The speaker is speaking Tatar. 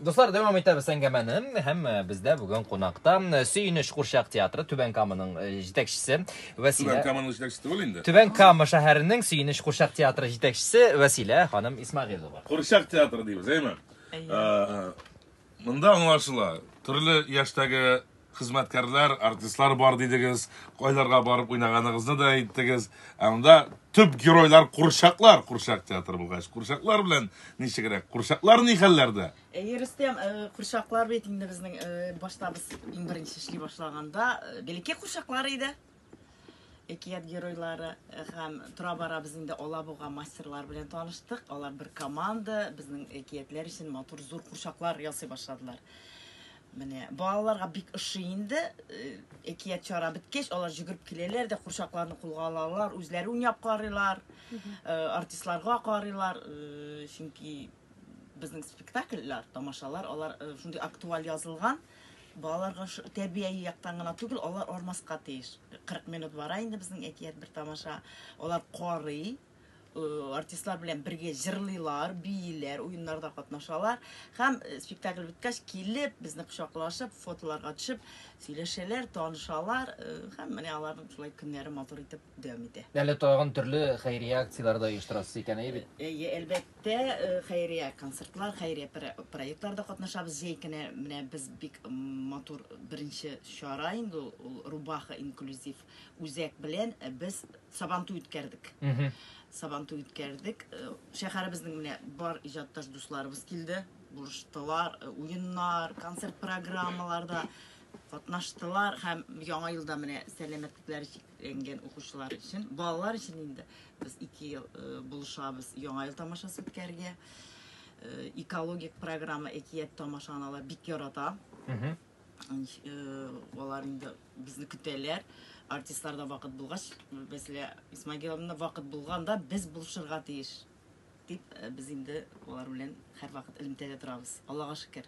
Дуслар, дәвам итәбез әңгәмәне. Һәм э, бездә бүген кунакта э, Сөенеч курчак театры Түбән Каманың э, җитәкчесе Вәсилә. Түбән Каманың җитәкчесе түгел инде. Түбән Кама шәһәренең Сөенеч курчак театры җитәкчесе Вәсилә ханым Исмагилова. Курчак театры дибез, әйме? Ә, Монда аңлашыла, төрле яшьтәге хезмәткәрләр, артистлар бар дидегез, кайларга барып уйнаганыгызны да әйттегез. Ә монда төп геройлар курчаклар, курчак театр булгач, курчаклар белән ничегрәк? Курчаклар ни хәлләрдә? Әйе, э, Рөстәм, э, курчаклар бит инде безнең э, башта без иң беренче эшли башлаганда, э, бәләкәй курчаклар иде. Әкият геройлары һәм тора-бара без инде Алабуга мастерлары белән таныштык. Алар бер команда, безнең әкиятләр өчен матур зур курчаклар ясый башладылар. Менә балаларга бик ошый инде. Э, әкият чара беткәч, алар җөгереп киләләр дә курчакларны кулга алалар, үзләре уйнап карыйлар, э, артистларга карыйлар, э, чөнки Безнең спектакльләр, тамашалар, алар э, шундый актуаль язылган, балаларга тәрбияи яктан гына түгел, алар армаска тиеш. 40 минут бара инде безнең әкият бер тамаша. Алар карый, э, артистлар белән бергә җырлыйлар, бииләр, уеннарда катнашалар һәм э, спектакль беткәч килеп, безне кочаклашып, фотоларга төшеп, сөйләшәләр, танышалар э, һәм менә аларның шулай көннәре матур итеп дәвам итә. Әле тагын төрле хәйрия акцияләре дә оештырасыз икән, әйе бит? Әйе, әлбәттә. Тә хәйрия концертлар, хәйрия проектларда катнашабыз. Җәй көне менә без бик матур беренче чара инде ул, ул Рубаха инклюзив үзәк белән без Сабантуй үткәрдек. Сабантуй үткәрдек. Шәһәребезнең менә бар иҗатташ дусларыбыз килде, булыштылар, уеннар, концерт программаларда катнаштылар һәм Яңа елда менә сәламәтлекләре ләнгән укучылар өчен, балалар өчен инде без ике ел э, булышабыз яңа ел тамашасы үткәрергә. Э, экологик программа әкият тамашаны алар бик ярата. Э, алар инде безне көтәләр. Артистлар да вакыт булгач, мәсәлән, Исмагиловна вакыт булганда без булышырга тиеш дип, э, без инде алар белән һәрвакыт элемтәдә торабыз. Аллага шөкер.